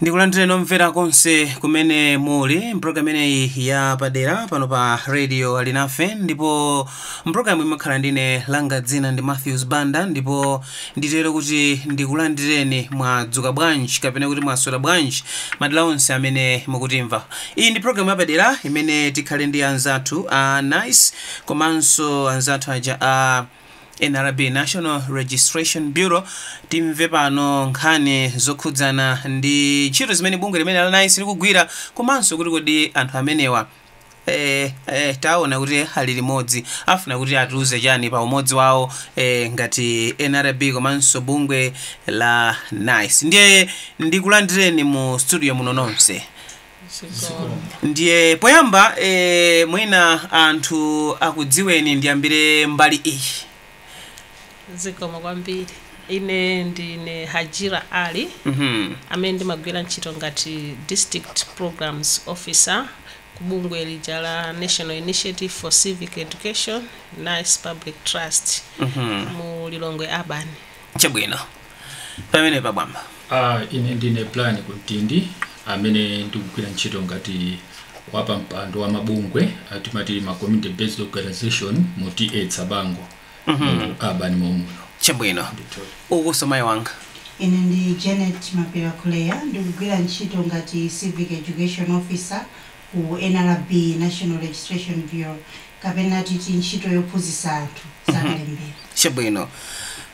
ndikulandireni omvera konse kumene muli mpulogalamu imeneyi ya padera pano pa radio alinafe ndipo Mpulogalamuyi mukhala ndine langa dzina ndi Matthews Banda ndipo nditero kuti ndikulandireni mwadzuka bwanji kapena kuti mwaswera bwanji madera onse amene mukutimva. Iyi ndi pulogalamu yapadera imene tikhale ndi anzathu a nice komanso anzathu aja a nrb National Registration Bureau timve pano nkhani zokhudzana ndi ntchito zimene bungwe limene la nice likugwira komanso kuti kodi anthu amenewa Eh, eh, taona kuti ali limodzi afuna kuti atiuze chani pa umodzi wawo eh, ngati nrb komanso bungwe la nice ndiye ndikulandireni mu studio muno nonse ndiye poyamba eh, mwina anthu akudziweni ndiyambire mbali iyi zikomo kwambiri ine ndine hajira ali Mhm. amene ndimagwira ntchito ngati district programs officer ku bungwe lija la national initiative for civic education nice public trust Mhm. mu lilongwe urban chabwino pamenepa bambo Ah, ine ndine plan kuntindi amene ndikugwira ntchito ngati wapampando wa mabungwe atimati ma community based organization mu ta tsabango mu urban momuno chabwino ukunso mayi wanga ine ndi janet mapira kuleya ndikugwira ntchito ngati civic education officer ku nrb, National Registration Bureau, kapena titi ntchito yophunzisa anthu za kalembera. Chabwino.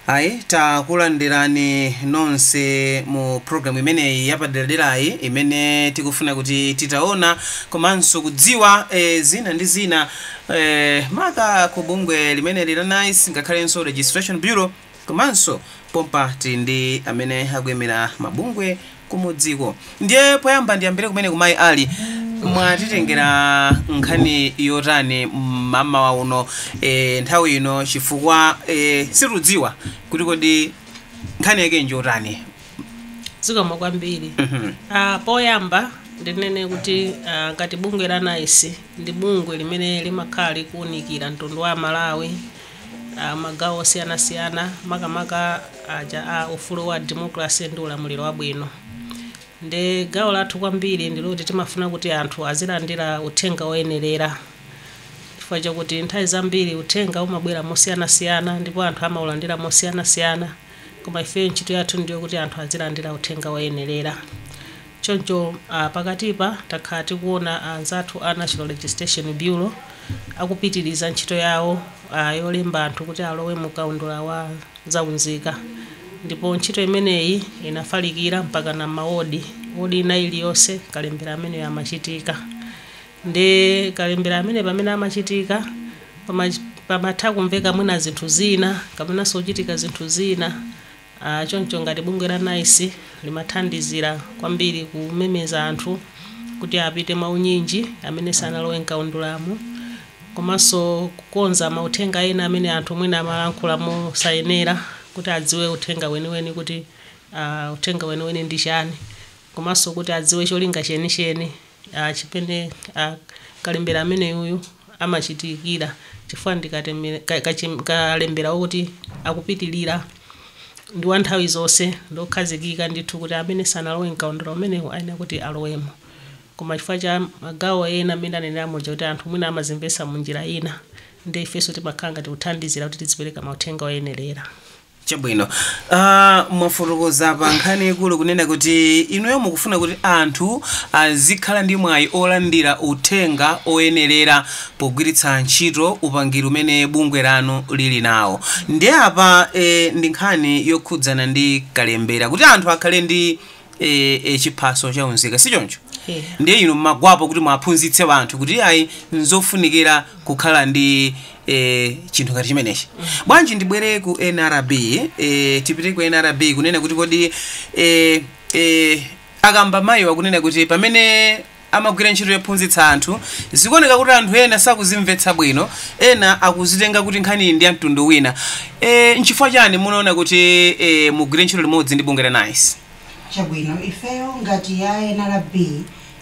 Ayi, takulandirani nonse mu program imeneyi yapaderaderayi imene tikufuna kuti titaona komanso kudziwa eh, zina ndi zina eh, maka ku bungwe limeneli la nice ngakhalenso registration bureau Komanso pompa tili ndi amene akuimira mabungwe kumudziko. Ndiye poyamba ndiyambire kumeneku Mayi Ali, mwatitengera nkhani yotani mmamawa uno nthawi ino chifukwa situdziwa kuti kodi nkhani yake njotani? Zikomo kwambiri. Poyamba ndinene kuti ngati bungwe la nice ndi bungwe limene limakhala likuunikira mtundu wa Amalawi, a magawo osiyanasiyana, makamaka aja a ufulu wa democracy ndi ulamuliro wabwino. Ndiye gawo lathu kwambiri ndi loti timafuna kuti anthu azilandira uthenga woyenerera chifukwa chakuti nthawi zambiri uthenga umabwera mosiyanasiyana ndipo anthu amaulandira mosiyanasiyana, koma ifeyo ntchito yathu ndi yokuti anthu azilandira uthenga woyenerera. Choncho pakatipa takhala tikuona anzathu a National Registration Bureau akupitiriza ntchito yawo yolemba anthu kuti alowe mu kaundula wa za unzika ndipo ntchito imeneyi inafalikira mpakana m'mawodi. Wodi ina iliyonse kalembera ameneyu amachitika. Ndiye kalembera ameneyu pamene amachitika pamatha kumveka mwina zinthu zina kapenanso kuchitika zinthu zina. Choncho ngati bungwe la nice limathandizira kwambiri kumemeza anthu kuti apite mwaunyinji amene sanalowe m'kaundulamu komanso kukonza mauthenga ena amene anthu mwina amalankhula mosayenera kuti adziwe uthenga weniweni kuti ah, uthenga weniweni ndi chani komanso kuti adziwe cholinga chenicheni chimene kalembera ameneyu amachitikira chifukwa ndi kalembera wokuti akupitilira ndi wa nthawi zonse ndi okhazikika ndithu kuti amene sanalowe mkaundula umenewu ayenera kuti alowemo koma chifukwa cha magawo ena mmene ndanenera muja kuti anthu mwina amazimvetsa mu njira ina ndiye ifenso timakhala ngati kuthandizira kuti tizipereka mauthenga oyenerera. Chabwino. Ah, mwafotokoza pa nkhani yaikulu kunena kuti inuyo mukufuna kuti anthu azikhala ndi mwayi olandira uthenga oyenerera pogwiritsa ntchito upangiri umene bungwe lanu lili nawo. Ndiye apa eh, ndi nkhani yokhudzana ndi kalembera kuti anthu akhale ndi e, e, chiphaso cha unzika si choncho Yeah. ndiye inu mmagwapo kuti muwaphunzitse anthu kuti ayi nzofunikira kukhala ndi e, chinthu ngati chimenechi bwanji ndibwere ku nrb e, tipite ku nrb kunena kuti kodi e, e, akamba mayiwa kunena kuti pamene amagwira ntchito yophunzitsa anthu. Zikuoneka kuti anthu ena sakuzimvetsa bwino, ena akuzitenga kuti nkhaniyi ndi ya mtundu wina. E, nchifukwa chani munaona kuti e, mugwire ntchito limodzi ndi bungwe la nice? chabwino ifeyo ngati a nrb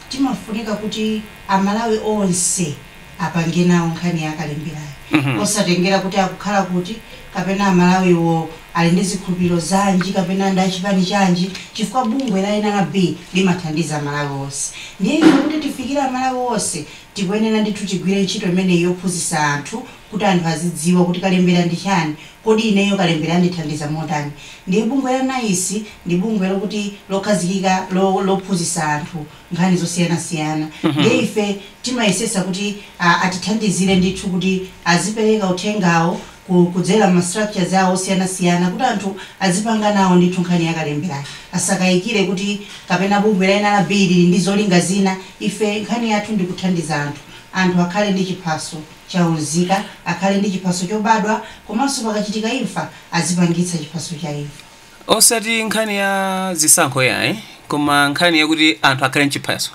timafunika kuti amalawi onse apange nawo nkhani ya kalemberayi posatengera kuti akukhala kuti kapena Amalawiwo ali ndi zikhulupiriro zanji kapena ndi a chipani chanji chifukwa bungwe la nrb limathandiza Amalawi onse. Ndiye ife kuti tifikire Amalawi onse tikuyenera ndithu tigwire ntchito imeneyi yophunzitsa anthu kuti anthu azidziwa kuti kalembera ndi chani, kodi ineyo kalembera andithandiza motani. Ndiye bungwe la nice ndi bungwe lokuti lokhazikika lophunzitsa anthu. nkhani zosiyanasiyana ndiye ife timayesesa kuti a, atithandizire ndithu kuti azipereka uthengawo ku- kudzera mma structures awo osiyanasiyana kuti anthu azipanga nawo ndithu nkhani ya kalemberayo asakayikire kuti kapena bungwe la NRB lili ndi zolinga zina ife nkhani yathu ndi kuthandiza anthu anthu akhale ndi chiphaso cha unzika akhale ndi chiphaso chobadwa komanso pakachitika imfa azipangitsa chiphaso cha imfa osati nkhani ya zisankho yayi koma nkhani yakuti anthu akhale n'chiphaso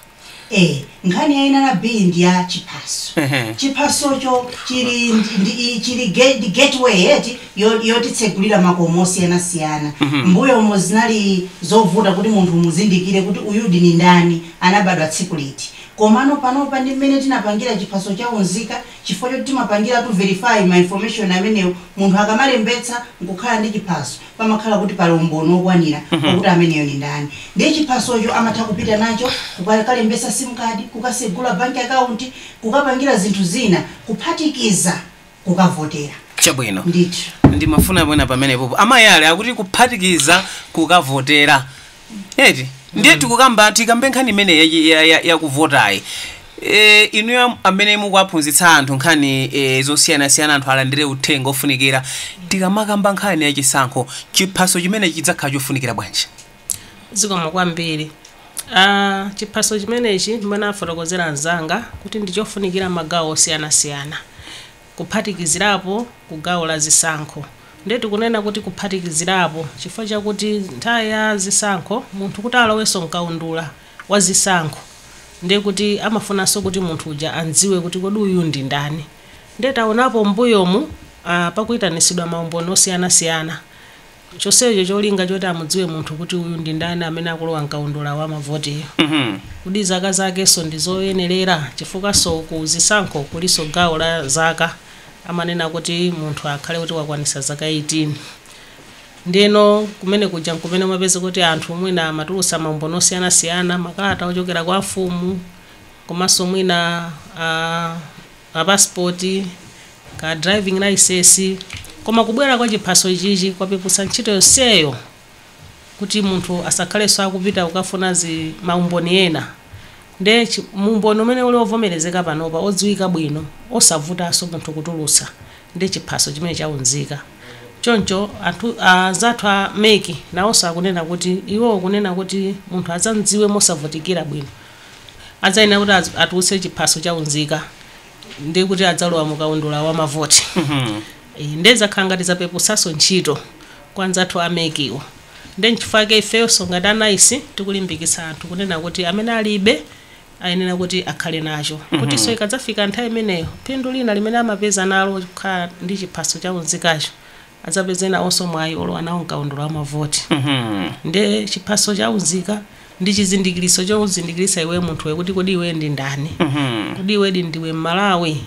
eh nkhani ya nrb ndi ya chiphaso Ehe. chiphasocho chili ndi- ndi- chili ge- ndi gateway yeti yo- yotitsegulira makomo osiyanasiyana m'mbuyomu zinali zovuta kuti munthu umuzindikire kuti uyudi ndi ndani anabadwa tsiku liti komano panopa ndi mmene tinapangira chiphaso cha unzika Chifukwa choti timapangiratu verify ma information amenewo, munthu akamalembetsa nkukhala ndi chiphaso, pamakhala kuti pali umboni wokwanira wakuti ameneyo ndi ndani. Ndiye chiphasocho amatha kupita nacho kukakalembetsa sim card, kukasegula bank account, kukapangira zinthu zina kuphatikiza kukavotera. Chabwino. Ndithu. Ndimafuna mwina pamenepopo a Mwale akuti kuphatikiza kukavotera. eti ndiye tikukamba tikambe nkhani imeneyi ya- ya- yakuvotayi e, inuyo am- amene mukuwaphunzitsa anthu nkhani e, zosiyanasiyana anthu alandire uthenga ofunikira tikamakamba nkhani ya chisankho chiphaso chimenechi chidzakhala chofunikira bwanji zikomo kwambiri Ah, chiphaso chimenechi mmene afotokozera anzanga kuti ndichofunikira magawo osiyanasiyana kuphatikizirapo ku gawo la zisankho. Ndiye tikunena kuti kuphatikizirapo chifukwa chakuti nthawi ya zisankho munthu kuti alowenso mkaundula wa zisankho ndiye kuti amafunanso kuti munthu uja amdziwe kuti kodi uyu ndi ndani. Ndiye taonapo m'mbuyomu pakuyitanitsidwa maumboni osiyanasiyana. chonsecho cholinga choti amudziwe munthu kuti uyu ndi ndani amene akulowa mkaundula wa mavotiyu. Kodi zaka zakenso ndi zoyenerera? Chifukwanso ku zisankho kulinso gawo la zaka, amanena kuti munthu akhale kuti wakwanitsa zaka 18. Ndiyeno kumene kuja n'kumene umapezeka kuti anthu mwina amatulutsa maumboni osiyanasiyana, makalata ochokera kwa amfumu komanso mwina a. ka passport, ka driving license, koma kubwera kwa chiphaso ichichi kwapeputsa ntchito yonseyo kuti munthu asakhalenso akupita kukafuna zi maumboni ena nde umboni umene uli ovomerezeka panopa odziwika bwino osavutanso munthu kutulutsa ndi chiphaso chimenechi cha unzika choncho anzathu a mec nawonso akunena kuti iwowo kunena kuti munthu adzamdziwe mosavutikira bwino adzayenera kuti a- atulutse chiphaso cha unzika ndi kuti adzalowa mu kaundula wa mavoti Eh, nde zakhala ngati zapepusanso ntchito kwa anzathu amekiwo nde nchifukwa chake ifeyonso ngati anaisi tikulimbikitsa anthu kunena kuti amene alibe ayenera kuti akhale nacho kutinso ikadzafika nthawi imeneyo phindu lina limene amapeza nalo kukhala ndi chiphaso cha unzikacho adzapeze nawonso mwayi olowa nawo mkaundula wa mavoti ndiye chiphaso cha unzika ndi chizindikilitso chokuzindikilitsa iweyo munthuwe kuti kodi iweyo ndi ndani kodi iwedi ndiwe m'malawi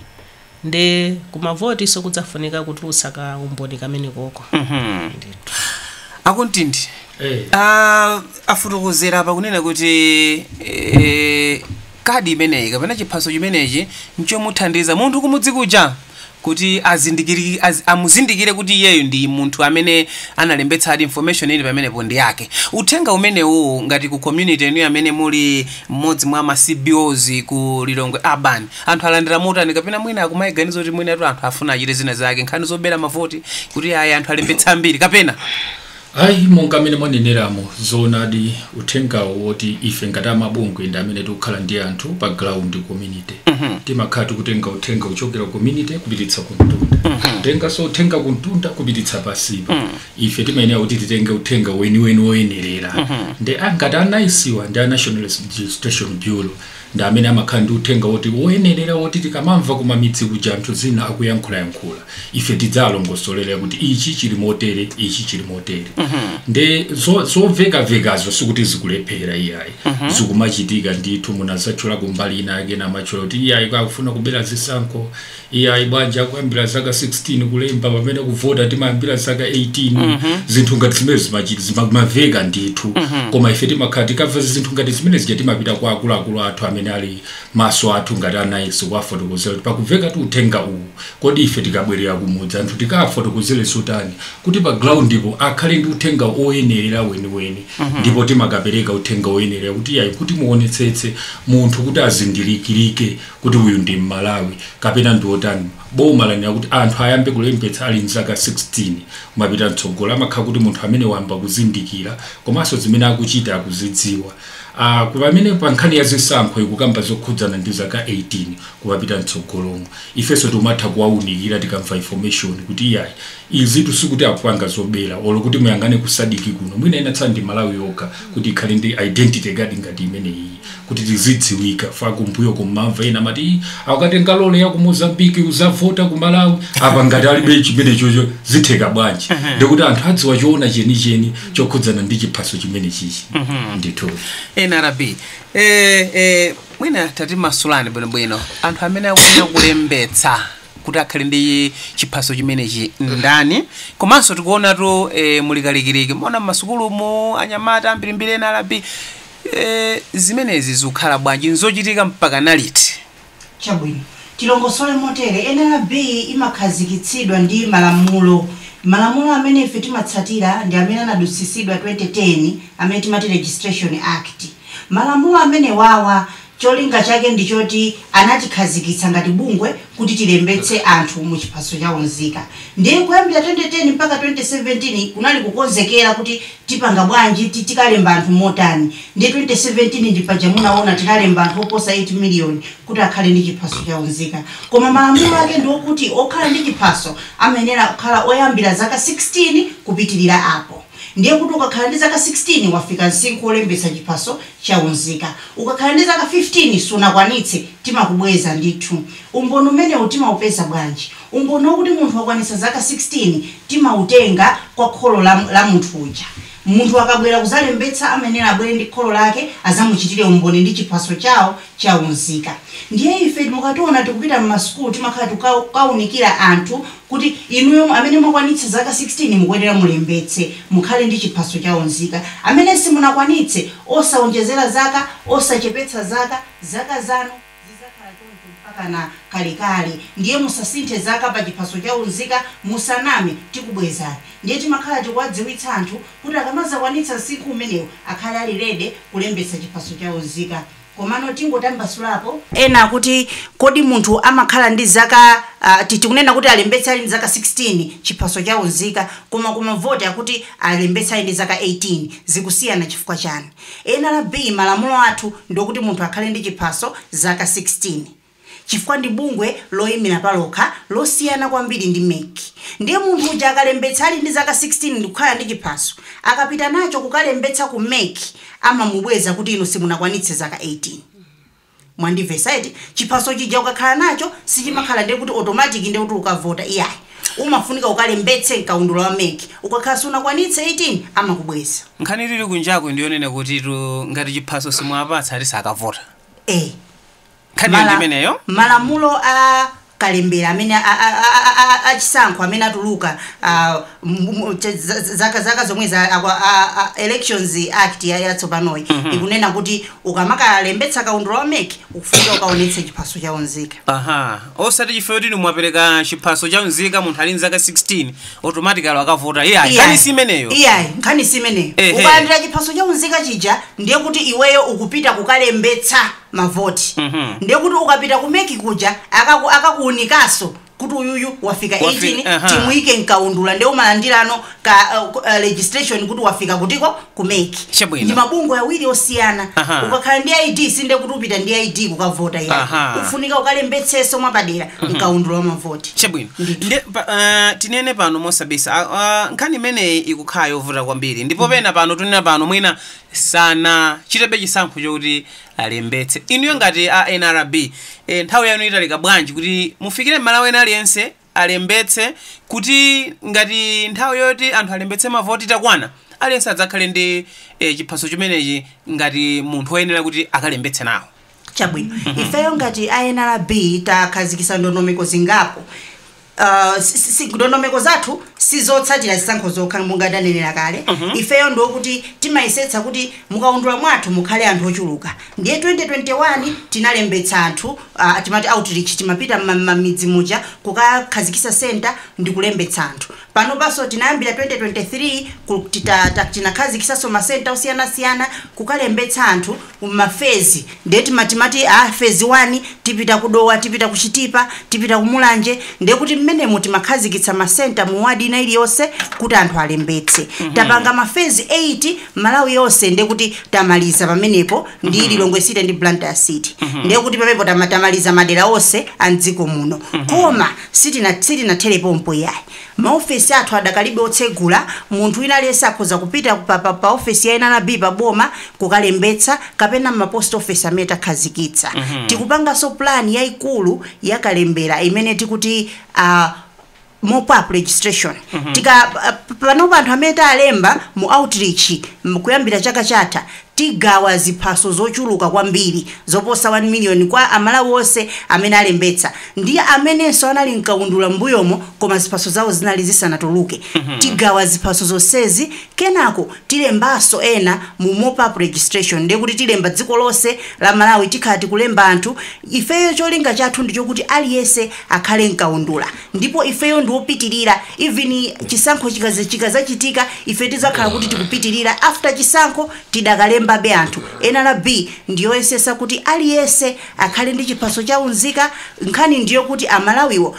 ndiye kumavotinso kudzafunika kutulutsa ka umboni kamenekoko ndithu a Kumtindi Eh. Ah, afotokozera apa kunena kuti eh, Kadi imeneyi kapena chiphaso chimenechi nchomuthandiza munthu kumudzi kuja kuti azindikiri azamuzindikire kuti iyeyu ndi munthu amene analembetsadi information ili pamenepo ndi yake. Uthenga umenewu ngati ku community ya inuyo amene muli mmodzi mwa ma CBOs ku Lilongwe Urban anthu alandira motani kapena mwina akumaiganiza kuti mwinatu anthu afuna achite zina zake nkhani zobera mavoti kuti ayi anthu alembetse ambiri kapena Ayi, monga mmene mwaneneramo, zoonadi uthengawo woti ife ngati amabungwe ndi amene tikukhala ndi anthu pa ground community timakhala tikutenga uthenga kuchokera ku community kupititsa kumtunda kutenganso uthenga kumtunda kupititsa pansipa ife timayenera kuti titenge uthenga weniweni woyenerera nde a- ngati anaisiwa ndi a national registration bureau ndi amene amakhala ndi uthenga woti woyenerera woti tikamamva ku mamidzi kuja anthu zina akuyankhulayankhula ife tidzawalongosolera kuti ichi chili motere ichi chili motere nde zo- zomvekavekazo sikuti zikulephera iyayi zikumachitika ndithu munadzatchula kumbali ina yake amatchula kuti iyayi akufuna kubera zisankho Iyayi bwanji akuyambira zaka 16 kulemba pamene kuvota timayambira zaka 18 zinthu ngati zimene zimachiti zimamaveka ndithu koma ife timakhala tikamva zinthu ngati zimene zija timapita kwa akuluakulu athu amene ali maso athu ngati anaisi kuwafotokozera kuti pakuveka tu uthenga uwu kodi ife tikabwerera kumudzi anthu tikawafotokozere zotani kuti pa groundipo akhale ndi uthenga oyenerera weniweni ndipo timakapereka uthenga oyenerera kuti iyayi kuti muonetsetse munthu kuti azindikirike kuti uyu ndi m'malawi kapena ndi otani boma lanena kuti anthu ayambe kulembetsa ali ndi zaka 16 kumapita mtsogolo amakhala kuti munthu amene wayamba kuzindikira komanso zimene akuchita akuzidziwa Uh, pamene pa nkhani ya zisankho ikukamba zokhudzana ndi zaka 18 kumapita mtsogolomo ifenso timatha kuwaunikira tikamva information kuti iyayi izitu sikuti akupanga zobera olo kuti muyang'ane ku SADC kuno mwina inatsala ndi malawi yokha kuti ikhale ndi identity card ngati imeneyi kuti tizidziwika paja kumbuyo kumamva ena amati "Ih, akatenga lole ya ku mozambiki uzavota ku malawi apa ngati alibe chimenecho zitheka bwanji ndikuti anthu adziwa choona chenicheni chokhudzana ndi chiphaso chimenechichi ndithu nrb eh, eh, mwina tatimasulani bwinobwino anthu amene akuyenera kulembetsa kuti akhale ndi chiphaso chimenechi ndani komanso tikuonatu eh, muli kalikiliki mmenemu m'masukulumu anyamata ambirimbiri nrb Eee zimenezi zikhala bwanji nzochitika mpakana liti? Chabwino. Tilongosole motere, nrb imakhazikitsidwa ndi malamulo. Malamulo amene ife timatsatira ndi amene anadutsisidwa 2010 amene timati Registration Act. Malamulo amenewawa Cholinga chake ndi choti anatikhazikitsa ngati bungwe kuti tilembetse anthu mu chiphaso cha unzika. Ndiye kuyambira 2010 mpaka 2017 kunali kukonzekera kuti tipanga bwanji, tikalemba anthu motani. Ndiye 2017 ndi paja munawona tinalemba anthu oposa 8 miliyoni kuti akhale ndi chiphaso cha unzika. Koma malamulo ake ndi okuti okhala ndi chiphaso amayenera kukhala oyambira zaka 16 kupitirira apo. Ndiye kuti ukakhala ndi zaka 16 wafika nsinkhu wolembetsa chiphaso cha unzika. Ukakhala ndi zaka 15 sunakwanitse, timakubweza ndithu. Umboni umenewu timaupeza bwanji? Umboni wakuti munthu wakwanitsa zaka 16 timautenga kwa kholo la munthu uja. Munthu akabwera kuzalembetsa amayenera abwere ndi kholo lake azamuchitire umboni ndi chiphaso chawo cha unzika. Ndiye ife mukationa tikupita m'masukulu timakhala tikukaunikira anthu kuti inu amene mwakwanitsa zaka 16 mukuyenera mulembetse mukhale ndi chiphaso cha unzika. Amene simunakwanitse, osaonjezera zaka, osachepetsa zaka, zaka zanu zidzakhala choncho mpakana kalekale ndiye musasinthe zaka pa chiphaso cha unzika, musaname, tikubwezani. Ndiye timakhala tikuwadziwitsa anthu kuti akamazakwanitsa nsinkhu umenewu akhale ali ready kulembetsa chiphaso cha unzika. Komano tingotambasula apo. Ena akuti kodi munthu amakhala ndi zaka a, ti, tikunena kuti alembetse ali ndi zaka 16 chiphaso cha unzika koma ku mavoti akuti alembetse ali ndi zaka 18 zikusiyana chifukwa chani? Nrb malamulo athu ndiokuti munthu akhale ndi chiphaso zaka 16. chifukwa ndi bungwe loyimira palokha losiyana kwambiri ndi mec ndiye munthu uja akalembetsa ali ndi zaka 16 ndikukhala ndi chiphaso akapita nacho kukalembetsa ku mec amamubweza kuti inu simunakwanitse zaka 18 mwandimvetsa eti chiphaso chija ukakhala nacho sichimakhala ndiye kuti automatic ndiye kuti ukavota iyayi umafunika ukalembetse mkaundula wa mec ukakhala sunakwanitse 18 amakubweza nkhani tili kunjaku ndiyonena kutitu ngati chiphaso simuwapatsa ati sakavota eh nkhaniyo Mala- ndimeneyo malamulo a kalembera amene a- a- a- a- a- achisankho amene atuluka ah, mu- mu- cha- za- zaka zaka zomwezi akwa- a- a- elections act ya- yatsopanoyi ikunena kuti ukamakalembetsa kaundula wa mek ufunika ukaonetse chiphaso cha unzika aha osati chifukwa kuti mwapereka chiphaso cha unzika munthu ali nzaka 16 automatically akavota iyayi nkhani si imeneyo iyayi nkhani si imeneyo Ehe. ukalandira chiphaso cha unzika chija ndiye kuti iweyo ukupita kukalembetsa mavoti ndiye kuti ukapita ku mec kuja akaku- akakuunikaso kuti uyuyu wafika Wafi- 18 aha. timuyike mkaundula ndiye umalandirano ka uh, ku- uh, registration kuti wafika kutiko ku mec Chabwino. ndi mabungwe awiri osiyana Aha. ukakhala ndi id sinde kuti upita ndi id kukavota Aha. iyayi ufunika ukalembetseso mwapadera mkaundula wa mavoti chabwino Ndithu. Nde- pa- ah, tinene pano mosabisa Ah, ah, nkhani imeneyi ikukhala yovuta kwambiri ndipo pena pano tunena pano mwina sanachitebe chisankho chokuti alembetse. Inuyo ngati a nrb, eh, nthawi yanu italika bwanji kuti mufikire m'malawi wina aliyense alembetse kuti ngati nthawi yoti anthu alembetse mavoti itakwana aliyense adzakhale ndi eh, chiphaso chimenechi ngati munthu woyenera kuti akalembetse nawo? Chabwino. Ifeyo ngati a NRB takhazikisa ndondomeko zingapo. Uh, si- si- si- ndondomeko zathu sizotsatira zisankho zokha monga ndanenera kale ifeyo ndiye kuti timayesetsa kuti mukaundula mwathu mukhale anthu ochuluka ndiye 2021 tinalembetsa anthu uh, timati outreach timapita mma- mmamidzi muja kukakhazikisa center ndi kulembetsa anthu panopaso tinayambira 2023 ku- tita- ta- tinakhazikisaso masenta osiyanasiyana kukalembetsa anthu mu ma fezi nde timati mu fezi wani tipita ku dowa tipita ku chitipa tipita ku mulanje nde kuti mmenemo timakhazikitsa ma center mu ward ina iliyonse kuti anthu alembetse tapanga ma fezi 8 malawi yonse nde kuti tamaliza pamenepo ndi lilongwe city ndi blantyre city nde kuti pamenepo tama- tamaliza madera onse a mdziko muno koma sitina- sitinathere pompo iyayi Maofesi athu adakalibe otsegula, munthu wina aliyense akhoza kupita pa pa pa ofesi ya nrb pa boma kukalembetsa kapena mma post office amene takhazikitsa. Tikupanganso plan yaikulu ya kalembera imene tikuti mopup registration. Tika panopa anthu amene talemba mu outreach kuyambira chaka chatha Tigawa ziphaso zochuluka kwambiri zoposa 1 miliyoni kwa a Malawi onse amene alembetsa ndi amenenso anali mkaundula m'mbuyomo koma ziphaso zawo zinali zisanatuluke. Tigawa ziphaso zonsezi kenako tilembanso ena mu mop up registration ndiye kuti tilemba dziko lonse la Malawi tikhala tikulemba anthu ifeyo cholinga chathu ndichokuti aliyense akhale mkaundula. Ndipo ifeyo ndi opitilira even chisankho chikazachitika ife tizakhala kuti tikupitilira after chisankho tidakalembabe anthu. Nrb ndiyoyesesa kuti aliyense akhale ndi chiphaso cha unzika nkhani ndiyokuti amalawiwo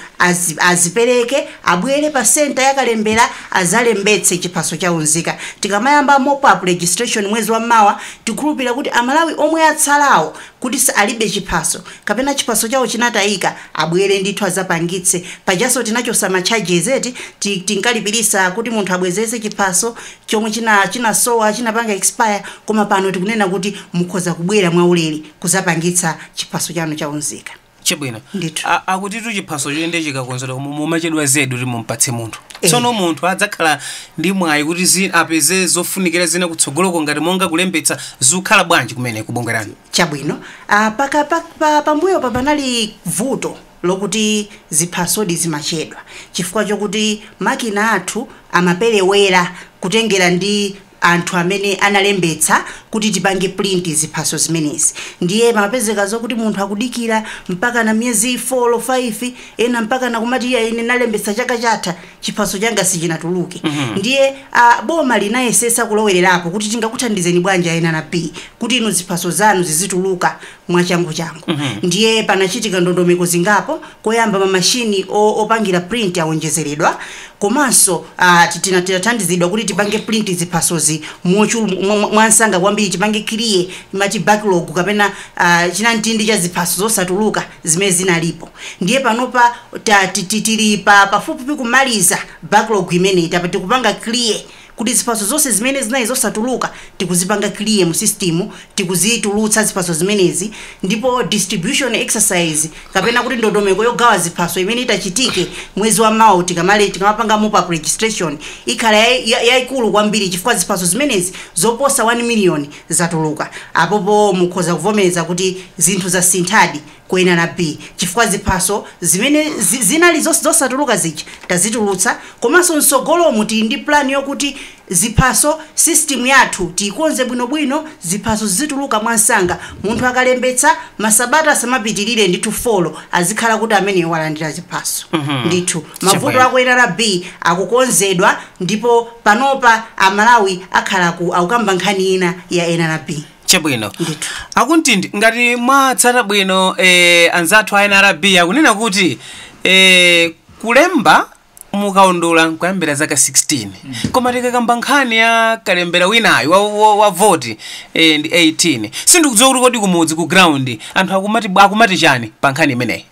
azipeleke abwele pa centre ya kalembela azalembetse chiphaso cha unzika tikamayamba mop up registration mwezi wa mawa tikhulupilira kuti amalawi omwe atsalawo kuti alibe chiphaso kapena chiphaso chawo chinatayika abwele ndithu azapangitse pajanso tinachosa ma charges eti tinkalipilisa kuti munthu abwezese chiphaso chomwe china chinasowa chinapanga expire koma pano tikunena kuti mukhoza kubwela mwaulele kuzapangitsa chiphaso chanu cha unzika chabwino Ndithu. A- akutitu chiphaso choendi chikakonzedwa koma mumachedwa zedi kuti mumpatse munthu Eh. tsono munthu adzakhala ndi mwayi kuti zi- apeze zofunikira zina kutsogoloko ngati monga kulembetsa zikukhala bwanji kumene kubungwe lanu chabwino ah, paka pa- pa- pambuyo pa panali vuto lokuti ziphasodi zimachedwa chifukwa chokuti makina athu amaperewera kutengera ndi anthu amene analembetsa kuti tipange print ziphaso zimenezi ndiye pamapezeka zokuti munthu akudikira mpakana miyezi 4, 5 ena mpakana kumati iya ine nalembetsa chaka chatha chiphaso changa sichinatuluke ndiye a, boma linayesesa kulowererapo kuti tingakuthandizeni bwanji a NRB kuti inu ziphaso zanu zizituluka mwachanguchangu. Ndiye panachitika ndondomeko zingapo, koyamba ma machine o, opangira print awonjezeredwa komanso a, titina, tinathandizidwa kuti tipange print ziphasozi mochulu, mwa, mwa, mwansanga kwambiri, tipange clear timati backlog kapena a, chinamtindi cha ziphaso zosatuluka zimene zinalipo. Ndiye panopa ta, ti, ti, tili pa, pafupifupi kumaliza backlog imeneyi, tapa tikupanga clear. kuti ziphaso zonse zimene zinali zosatuluka tikuzipanga clear mu system tikuzitulutsa ziphaso zimenezi ndipo distribution exercise kapena kuti ndondomeko yogawa ziphaso imene itachitike mwezi wa mawa tikamale tikamapanga mop up registration ikhala yai- ya- yaikulu kwambiri chifukwa ziphaso zimenezi zoposa 1 million zatuluka apopo mukhoza kuvomereza kuti zinthu zasinthadi ku nrb chifukwa ziphaso zimene zinali zosatuluka zija tazitulutsa komanso mtsogolomu tili ndi plan yokuti ziphaso system yathu tiyikonze bwinobwino ziphaso zizituluka mwansanga munthu akalembetsa masabata asamapitilire ndithu 4 azikhala kuti ameneyo walandira ziphaso ndithu mavuto a ku nrb akukonzedwa ndipo panopa amalawi akhala akukamba nkhani ina ya nrb. chabwino Ndithu. a Kumtindi ngati mwatsata bwino eh, anzathu a nrb akunena kuti eh, kulemba mukaundula nkuyambira zaka 16 koma tikakamba nkhani ya kalembera winayo wa, wa, wa voti eh, ndi 18 sindikudziwa kuti kodi kumudzi ku ground anthu akumati, akumati chani pa nkhani imeneyi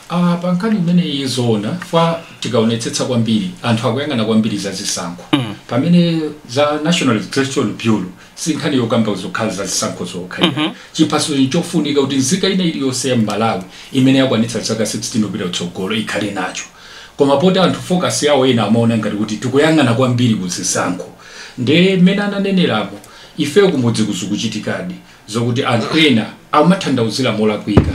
A pankhani imeneyi zoona kwa tikaonetsetsa kwambiri anthu akuyang'ana kwambiri za zisankho mm. pamene za National Registration Bureau si nkhani yokamba zokhala za zisankho zokha mm -hmm. chiphaso n'chofunika kuti nzika ina iliyonse ya Malawi imene yakwanitsa zaka 16 kupita kutsogolo ikhale nacho koma poti anthu focus yawo ena amaona ngati kuti tikuyang'ana kwambiri ku zisankho nde mmene ananenerapo ifeyo kumudzi kuja zikuchitikadi Zokuti anthu ena akumathandauzira molakwika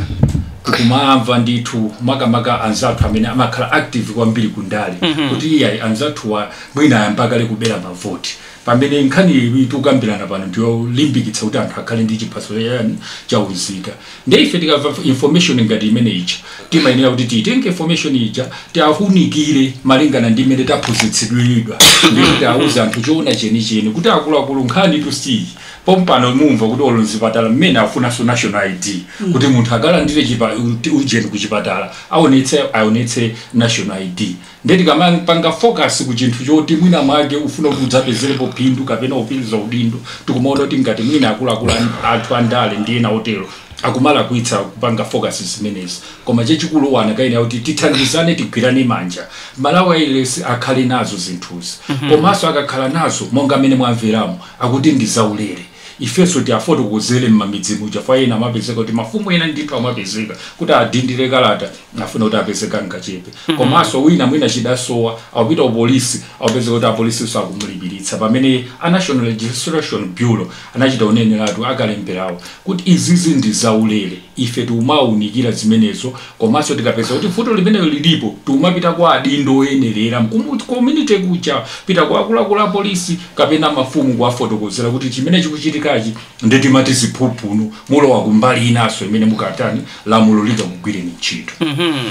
tikumaamva ndithu makamaka anzathu amene amakhala active kwambiri ku ndale kuti iyayi anzathuwa mwina ayamba kale kubera mavoti pamene nkhani iyi tikukambirana pano ndiyolimbikitsa kuti anthu akhale ndi chiphaso yani cha unzika nde ife tikamva information ngati imene ija timayenera kuti tiitenge information ija tiwaunikire malingana ndi imene taphunzitsidwira nkuti tiwauze anthu choona chenicheni kuti akuluakulu nkhanitu si iyi Pompano mumva kuti olo mzipatala mmene akufunanso national ID kuti munthu akalandire chipa, ujeni kuchipatala aonetse aonetse national ID nde tikamapanga focus ku chinthu choti mwina mwake ufuna kuti udzapezerepo phindu kapena upitirize udindo tikumaona kuti ngati mwina akuluakulu an- athu andale ndi ena otero akumalakwitsa kupanga focus zimenezi koma chachikulu tonse tikuyenera kuti tithandizane tigwirane manja aMalawi at least akhale nazo zinthuzi komanso akakhala nazo monga amene mwamveramo akuti ndi zaulere. Ifenso tiafotokozere mmamidzi muja chifukwa ena amapezeka kuti mafumu ena ndithu amapezeka kuti adindire kalata afuna kuti apeze kangachepe mm-hmm. komanso wina mwina chidasowa akupita kupolisi akupezeka kuti apolisinso akumulipiritsa pamene a national registration bureau anachita kuneneratu akalemberawo kuti izizi ndi zaulere ife tikumawaunikira zimenezo Komanso tikapeza kuti vuto limenelo lilipo, tikumapita kwa adindo oyenerera ku community kuja, pita kwa akuluakulu a polisi kapena mafumu kuwafotokozera kuti chimene chikuchitikachi nde timati ziphuphutu, mulowa kumbali inanso imene mukatani, lamulo lingakugwireni ntchito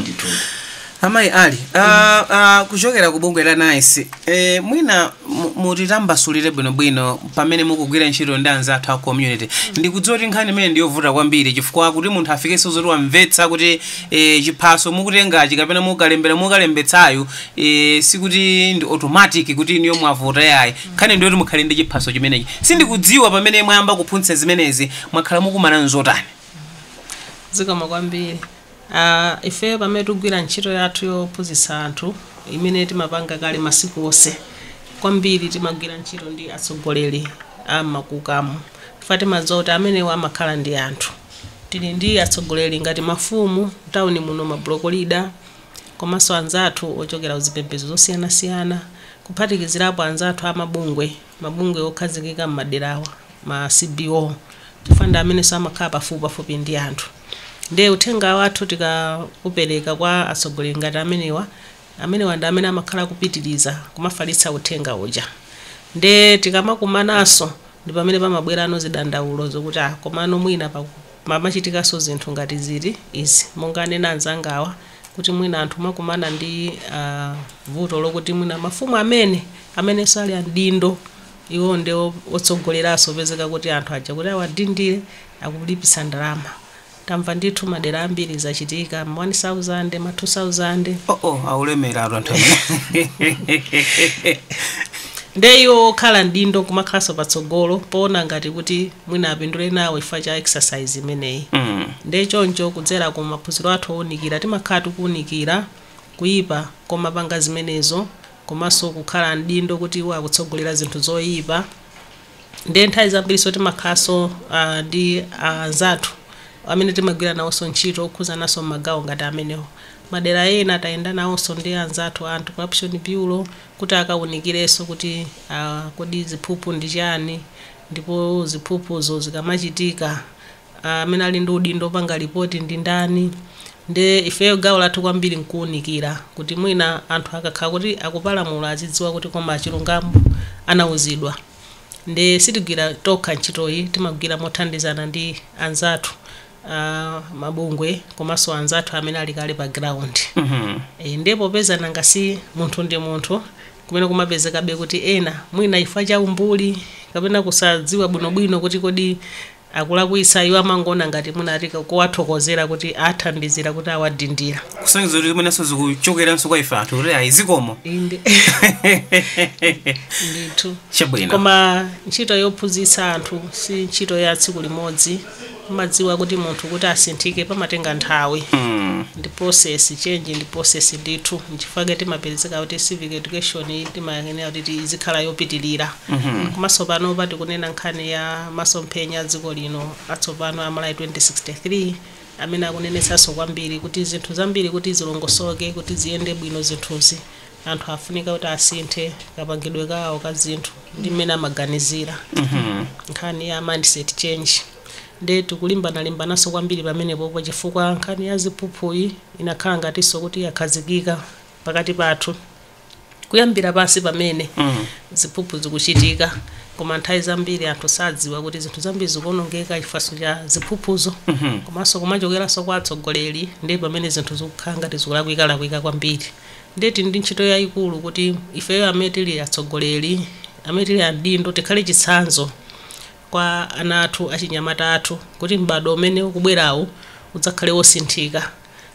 ndithudi. Amayi Ali, ah, ah, kuchokera ku bungwe la NICE, eh, mwina mutitambasulire bwinobwino pamene mukugwira ntchito ndi anzathu a community ndikudziwa kuti nkhani imene ndiyovuta kwambiri chifukwa kuti munthu afikenso zoti wamvetsa kuti eh, chiphaso mukutengachi kapena kalembera mukalembetsayu eh, sikuti ndi automatic kuti inuyo mwavota iyayi nkhani ndiyoti mukhale ndi chiphaso chimenechi sindikudziwa pamene mwayamba kuphunzitsa zimenezi mwakhala mukukumana nzotani zikomo kwambiri a Ifeyo pamene tikugwira ntchito yathu yophunzitsa anthu imene timapanga kale masiku onse, kwambiri timagwira ntchito ndi atsogoleri a m'makhwimbi chifukwa timadziwa kuti amenewa amakhala ndi anthu. Tili ndi atsogoleri ngati mafumu m'tauni muno, mabuloko lida komanso anzathu ochokera ku zipembedzo zosiyanasiyana, kuphatikizirapo anzathu a mabungwe. Mabungwe okhazikika m'maderawa, ma CBO, chifukwa ndi amenenso amakhala pafupipafupi ndi anthu. Ndiye uthenga wathu tikaupereka kwa atsogoleri ngati amenewa, amenewa ndi amene amakhala akupitiriza kumafalitsa uthenga uja. Ndiye tikamakumananso ndi pamene pamabwerano zidandaulo zokuti, ah, komano mwina pamachitikanso zinthu ngati izi, izi, monga anena anzangawa. kuti mwina anthu amakumana ndi uh, vuto lokuti mwina mafumu amene amenenso ali amdindo iwo ndi otsogoleraso kupezeka kuti anthu aja kuti awadindire akulipitsa ndalama tamva ndithu madera ambiri zachitika ma 1000 ma 2000 uh, uh, nde iwo okhala mdindo kumakhalanso patsogolo poona ngati kuti mwina apindule nawo chifukwa cha exercise imeneyi nde choncho kudzera ku maphunziro athu owunikira timakhala tikuwunikira kuyipa komapanga zimenezo komanso kukhala mdindo kuti iwo kutsogolera zinthu zoyipa nde nthawi zambiriso timakhalanso ah, ndi anzathu amene timagwira nawonso ntchito okhuzananso mmagawo ngati amenewo madera ena tayenda nawonso ndi anzathu a anti corruption bureau kuti akawunikireso kuti ah, kodi ziphuphu ndi chani Ndipo ziphuphuzo zikamachitika amene ali ndi udindo opanga report ndi ndani? Nde ifeyo gawo lathu kwambiri nkuunikira kuti mwina anthu akakhala kuti akupalamula azidziwa kuti koma chilungamo anauzidwa. Nde sitigwira tokha ntchitoyi, timagwira mothandizana ndi anzathu. a mabungwe komanso anzathu amene ali kale pa ground Mhm. e, ndiye popeza nanga si munthu ndi munthu kumena kumapezekabe kuti ena mwina ifa cha umbuli kapena kusadziwa bwinobwino kuti kodi akulakwitsa iwo amangoona ngati mwinatu kuwathokozera kuti athandizira kuti awadindira kusonyeza kuti zimenenso zikuchokeranso kwa ife anthu kuti ayi zikomo inde ndithu chabwino koma ntchito yophunzitsa anthu si ntchito ya tsiku limodzi Kumadziwa kuti munthu kuti asinthike pamatenga nthawi ndi process change ndi process ndithu nchifukwa chake timapezeka kuti civic education iyi timayenera kuti ti- izikhala yopitilira komanso panopa tikunena nkhani ya masomphenya a dziko lino atsopano a Malawi 2063 amene akunenetsanso kwambiri kuti zinthu zambiri kuti zilongosoke kuti ziyende bwino zinthuzi anthu afunika kuti asinthe kapangidwe kawo ka zinthu ndi mmene amaganizira nkhani ya mindset change nde tikulimbanalimbananso kwambiri pamenepopo chifukwa nkhani ya ziphuphuyi inakhala ngatinso kuti yakhazikika pakati pathu kuyambira pansi pamene ziphuphu zikuchitika koma nthawi zambiri anthu sadziwa kuti zinthu zambiri zikuonongeka chifaso cha ziphuphuzo komanso kumachokeranso kwa atsogoleri ndiye pamene zinthu zikukhala ngati zikulakwikalakwika kwambiri Ndiye tili ndi ntchito yaikulu kuti ifeyo amene tili atsogoleri, amene tili adindo tikhale chitsanzo kwa ana athu, achinyamata athu kuti m'badwo umene ukubwerawu udzakhale wosinthika.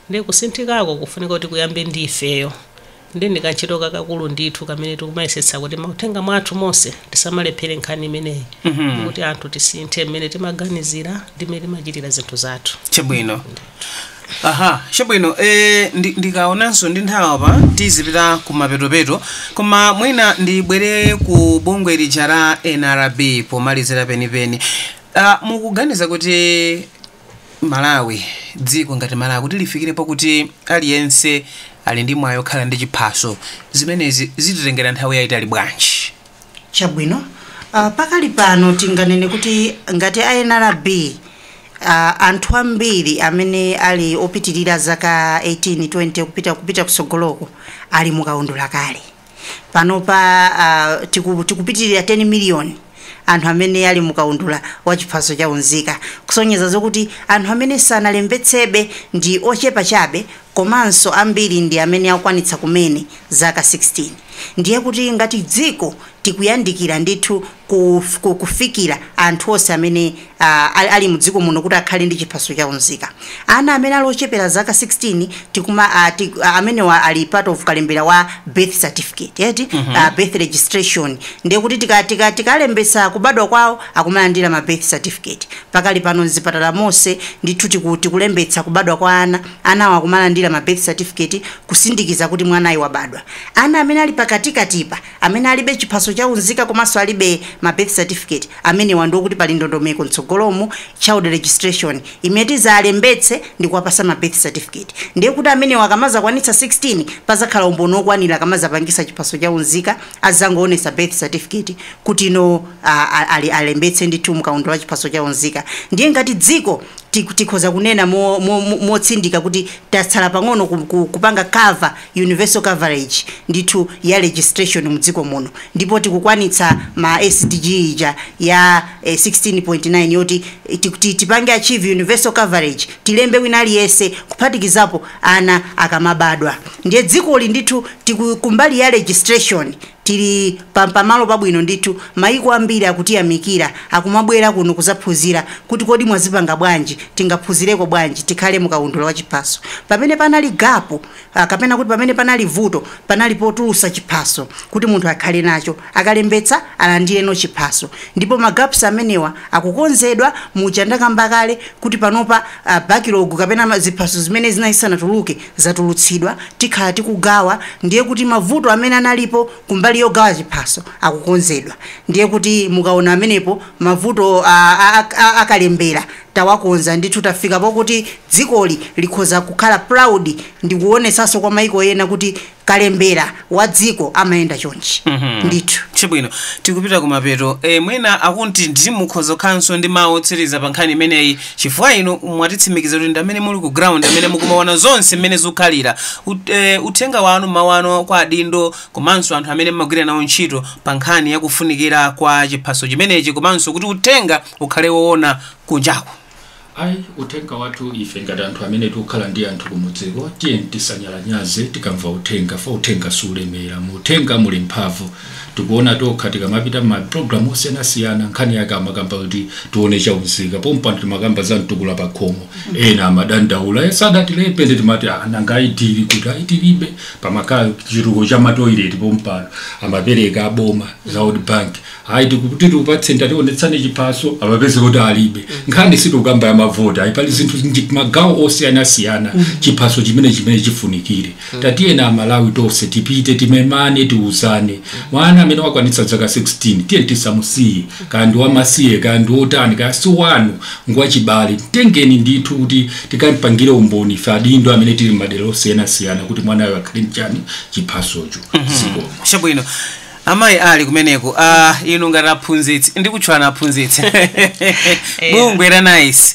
Ndiye kusinthikako kukufunika kuti kuyambe ndi ifeyo. Ndiye ndi kantchito kakakulu ndithu kamene tikumayesetsa kuti mauthenga mwathu monse tisamalephere nkhani imeneyi yokuti anthu tisinthe mmene timaganizira ndi mmene timachitira zinthu zathu. Chabwino. aha chabwino e, ndi- ndikaonanso ndi nthawi apa tizipita ku mapetopeto koma mwina ndibwere ku bungwe lija la nrb pomalizira penipeni Ah, mukuganiza kuti malawi dziko ngati malawi kuti lifikire pokuti aliyense ali ndi mwayi okhala ndi chiphaso zimenezi zititengera nthawi yayitali bwanji Chabwino. Uh, pakali pano tinganene kuti ngati a NRB uh, anthu ambiri amene ali opitirira zaka 18 20 kupita kupita kutsogoloko ali mukaundula kale panopa uh, tiku, tikupitirira 10 miliyoni anthu amene ali mukaundula wa chiphaso cha unzika kusonyeza zokuti anthu amene sanalembetsebe ndi ochepa chabe komanso ambiri ndi amene akukwanitsa kumene zaka 16, ndiye kuti ngati dziko tikuyandikira ndithu ku kufikira anthu onse amene a ali mdziko muno kuti akhale ndi chiphaso cha unzika. Ana amene ali ochepera zaka 16 tikuma a ti a amenewa ali part of kalembera wa birth certificate eti a birth registration ndiye kuti tika tika tikalembetsa kubadwa kwawo akumalandira ma birth certificate pakali pano mzipatala monse ndithu tiku tikulembetsa kubadwa kwa ana Anawa akumalandira ma birth certificate kusindikiza kuti mwanayu wabadwa. Ana amene ali pakatikatipa, amene alibe chiphaso cha unzika komanso alibe ma birth certificate, amenewa ndi okuti pali ndondomeko mtsogolomu, child registration, imene tizalembetse ndikuwapasa ma birth certificate. Ndiye kuti amenewa akamazakwanitsa 16, pazakhala umboni okwanira akamazapangisa chiphaso cha unzika, azizangoonesa birth certificate kuti no alembetse ndithu mu kaundula wa chiphaso cha unzika. Ndiye ngati dziko, tik tikhoza kunena mo, mo, mo, motsindika kuti tatsala pang'ono ku, ku, kupanga cover universal coverage ndithu ya registration mu dziko muno ndipo tikukwanitsa ma SDG aja ya eh, 16.9 yoti eh, ti- ti- tipange achieve universal coverage tilembe wina aliyense kuphatikizapo ana akamabadwa ndiye dzikoli ndithu tiku- kumbali ya registration Tili pa pamalo pabwino ndithu, mayiko ambiri akutiyamikira, akumabwera kuno kuzaphunzira kuti kodi mwazipanga bwanji, tingaphunzireko bwanji, tikhale mu kaundula wa chiphaso. Pamene panali gap, kapena kuti pamene panali vuto, panali potulusa chiphaso kuti munthu akhale nacho, akalembetsa alandire no chiphaso. Ndipo ma gaps amenewa akukonzedwa, muja ndakamba kale kuti panopa backlog kapena ziphaso zimene zinali zisanatuluke zatulutsidwa tikhala tikugawa ndiye kuti mavuto amene analipo kumbali yogawa chiphaso akukonzedwa ndiye kuti mukaona pamenepo mavuto a, a, a, a kalembera tawakonza ndithu tafika pokuti dzikoli likhoza kukhala proud ndikuonetsanso kwa maiko ena kuti kalembera wa dziko amayenda chonchi ndithu chabwino tikupita kumapeto e, mwina akuti inu mukhoza kukhalanso ndi mawu otsiriza pa nkhani imeneyi chifukwa inu mwatitsimikiza kuti ndi amene muli ku ground amene mukumaona zonse mmene zikukhalira Ut- eh, uthenga wanu mawu anu kwa adindo komanso anthu amene mmagwira nawo ntchito pa nkhani yakufunikira kwa chiphaso chimenechi komanso kuti uthenga ukhale woona kunjako Ayi, uthenga wathu ife ngati anthu amene tikukhala ndi anthu kumudziko tiyeni tisanyalanyaze tikamva uthenga poti uthenga sulemera mu uthenga muli mphamvu tikuona tokha tikamapita ma program osiyanasiyana nkhani yake amakamba kuti tione chaunzika pompano timakamba za mtukula pa khomo ena amadandaula "Eh, sadatilembe ndi timati "Ah, nanga ID ili kuti ID alibe pamakhala chitukuko cha matoileti pompano amapereka aboma za world bank ayi tikuti tikupatseni tationetsani chiphaso apezeke kuti alibe nkhani sitikukamba ya mavoti ayi pali zinthu ndi magawo osiyanasiyana chiphaso chimene chimene chifunikire tatiyeni amalawi tonse tipite timemane tiuzane mwana amene wakwanitsa zaka 16 tiyeni tisamusiye kaya ndi wamasiye kaya ndi wotani kaya si wanu ngwachibale mtengeni ndithu kuti tikampangire umboni ife adindo amene tili m'madera osiyanasiyana kuti mwanayo akhale nacho chiphasocho zikomo chabwino amayi ali kumeneko ah, inu ngati aphunzitsi ndikutchulani aphunzitsi m'bungwe la nice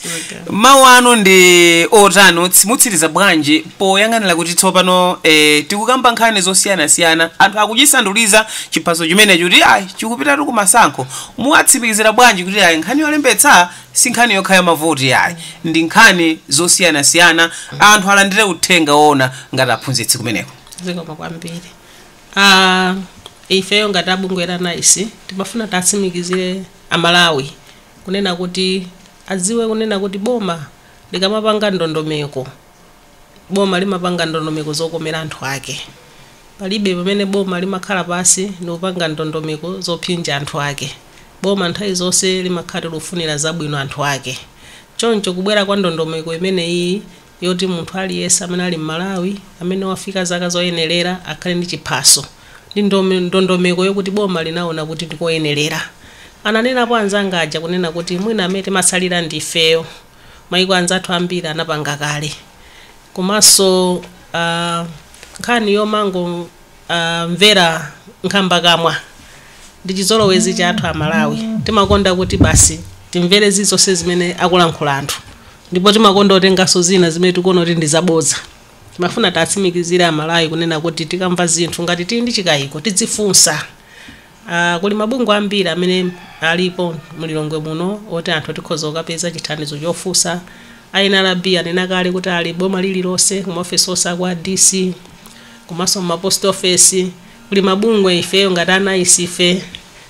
mawu anu ndi otani Utsi- mutsiriza bwanji poyang'anira kuti tsopano eh, tikukamba nkhani zosiyanasiyana anthu akuchisanduliza chiphaso chimenecho kuti ayi chikupitatu kumasankho muwatsimikizira bwanji kuti ayi nkhani yolembetsa si nkhani yokha ya mavoti yayi ndi nkhani zosiyanasiyana anthu alandire uthenga woona ngati aphunzitsi kumeneko zikomo kwambiri A, ifeyo ngati a bungwe la nice timafuna tiwatsimikizire a Malawi kunena kuti adziwe kunena kuti boma likamapanga ndondomeko, boma limapanga ndondomeko zokomera anthu ake. Palibe pamene boma limakhala pansi ndikupanga ndondomeko zopsinja anthu ake. Boma nthawi zonse limakhala likufunira zabwino anthu ake. Choncho kubwera kwa ndondomeko imeneyiyi yoti munthu aliyense amene ali m'Malawi amene wafika zaka zoyenelera akhale ndi chiphaso ndi ndondomeko yokuti boma linaona kuti ndikoyenelera. Ananenapo anzanga aja kunena kuti mwina amene timatsalira ndi ifeyo. Maiko anzathu ambiri anapanga kale. Komanso aah nkhani yomango aah mvera nkhambakamwa ndi chizolowezi chathu a Malawi. Timakonda kuti basi timvere zilizonse zimene akulankhula anthu. Ndipo timakonda kutenganso zina zimene tikuona kuti ndi zabodza. Timafuna tiatsimikizire a Malawi kunena kuti tikamva zinthu ngati tili ndi chikaiko tidzifunsa. Aaa kuli mabungwe ambiri amene alipo mu Lilongwe muno oti anthu tikhoza kukapeza chithandizo chofunsa. A nrb anena kale kuti ali m'boma lililonse ku maofesi onse a kwa DC komanso mma post office kuli mabungwe ifeyo ngati a nice ife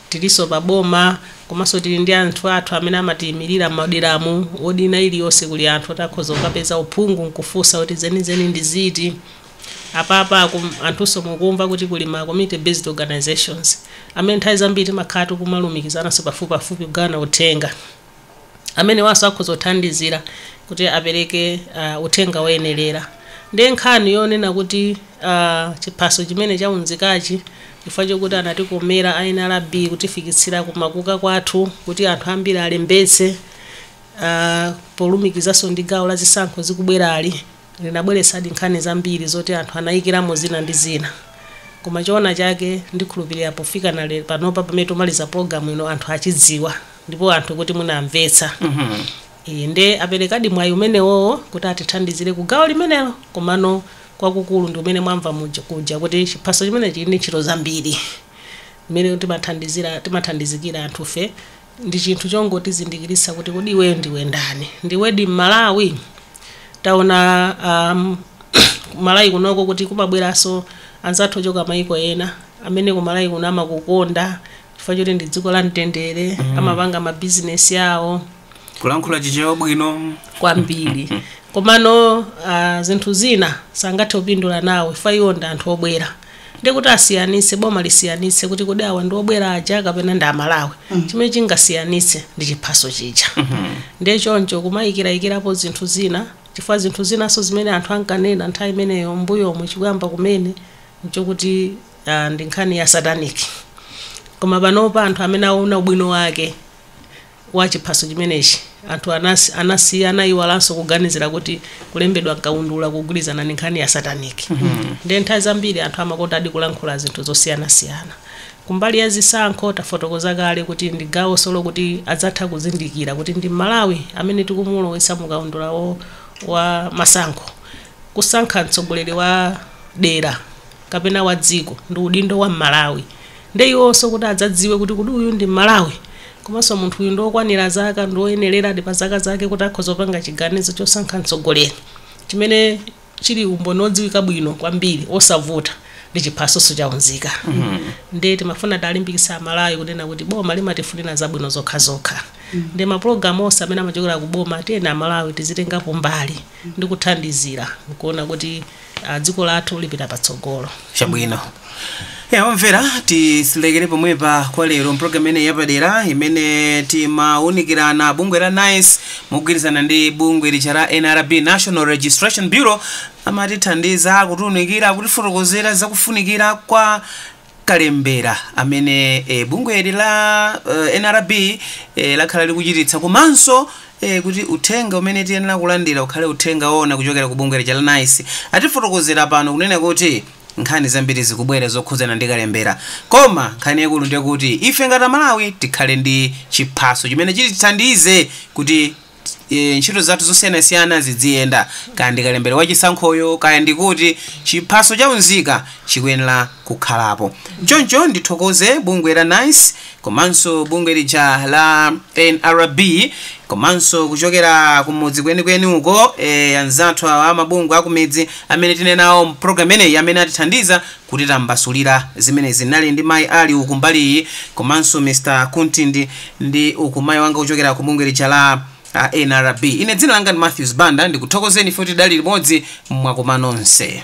Tilinso pa boma komanso tili ndi anthu athu amene amatiimirira m'mawodimu. Wodi ina iliyonse kuli anthu oti akhoza kukapeza uphungu n'kufunsa kuti zenizeni ndi ziti. Apapa anthunso mukumva kuti kuli ma community based organisations amene nthawi zambiri timakhala tikumalumikizananso pafupipafupi kugawana uthenga. amenewanso akhoza kuthandizira kuti apereke uh, uthenga woyenerera ndiye nkhani yonena kuti uh, chiphaso chimene chaunzikachi chifukwa chokuti anatikomera a nrb kutifikitsira kumakuka kwathu kuti anthu ambiri alembetse uh, polumikizanso ndi gawo la zisankho zikubwerali Linabweretsadi nkhani zambiri zoti anthu anayikiramo zina ndi zina. Koma choona chake ndikhulupirira pofikana lero panopa pamene tikumaliza program ino anthu achidziwa ndipo anthu kuti mwina amvetsa. Ee, nde aperekadi mwayi umenewowo kuti atithandizire ku gawo limenelo komano kwakukulu ndi umene mwamva kuja kuti chiphaso chimenechi chili ndi ntchito zambiri. Mmene timathandizikira anthufe. Ndi chinthu chongotizindikiritsa kuti kodi iwe ndiwe ndani? Ndiwedi Mmalawi? Taona ku Malawi kunoko kuti kumabweranso anzathu ochoka mayiko ena amene ku Malawi kuno amakukonda chifukwa choti ndi dziko la mtendere, amapanga mabizinesi awo Kulankhula Chichewa bwino. kwambiri. Komano ah, zinthu zina sangathe kupindula nawo chifukwa iwo ndi anthu obwera. ndiye kuti asiyanitse boma lisiyanitse kuti kodi awa ndi obwera aja kapena ndi amalawi chimene chingasiyanitse ndi chiphaso chija ndiye choncho kumayikirayikirapo zinthu zina chifukwa zinthu zinanso zimene anthu ankanena nthawi imeneyo mbuyomu chikuyamba kumene nchokuti ah, ndi nkhani ya satanic koma panopa anthu amene aona ubwino wake wa chiphaso chimenechi, anthu anasiya anayiwalanso kuganizira kuti kulembedwa m'kaundula kugwirizana ndi nkhani ya satanic. Ndiye nthawi zambiri anthu amakondadi kulankhula zinthu zosiyanasiyana. Kumbali ya zisankho, tafotokoza kale kuti ndi gawonso lokuti adzatha kuzindikira kuti ndi m'Malawi amene tikumulowetsa mu kaundula wa wa masankho, kusankha mtsogoleri wa dera. kapena wa dziko ndi udindo wa mmalawi nde iwonso kuti adzadziwe kuti kodi uyu ndi mmalawi komanso munthu uyu ndi okwanira zaka ndi oyenereradi pa zaka zake kuti akhoza kupanga chiganizo chosankha mtsogoleri chimene chili umboni odziwika bwino kwambiri osavuta ndi chiphaso cha unzika nde timafuna talimbikitsa amalawi kunena kuti boma limatifunira zabwino zokha zokha ndi mapulogalamu onse amene amachokera ku boma tiyeni amalawi tizitengapo mbali ndi kuthandizira kuona kuti ah, dziko lathu lipita patsogolo chabwino a omvera tisilekere pomwepa kwa lero mpulogalamu imeneyi yapadera imene timawunikirana bungwe la nice mogwirizana ndi bungwe lija la nrb national registration bureau amatithandiza kutiwunikira kutifotokozera zakufunikira kwa kalembera amene e, bungweli la e, nrb e, lakhala likuchititsa komanso e, kuti uthenga umene tiyenera kulandira ukhale uthenga woona kuchokera ku bungwe lija la nice atifotokozera pano kunena kuti nkhani zambiri zikubwera zokhudzana ndi kalembera koma nkhani yaikulu ndi yakuti ife ngati amalawi tikhale ndi chiphaso chimene chitithandize kuti ntchito zathu zosiyanasiyana zidziyenda, kaya ndi kalembera wa chisankhoyo, kaya ndi kuti, chiphaso cha unzika chikuyenera kukhalapo. Choncho ndithokoze bungwe la nice komanso bungwe lija la nrb komanso kuchokera kumudzi kwenikweni uko, eeh anzathu awa a mabungwe akumidzi amene tinali nawo mu program imeneyi amene atithandiza kutitambasulira zimenezi tinali ndi mayi Ali uku mbali iyi komanso Mr Kunti ndi, ndi uku mayi wanga kuchokera ku bungwe lija la a NRB. Ine dzina langa ndi Matthews Banda ndikuthokozeni inu kuti tinali limodzi zakoma nonse.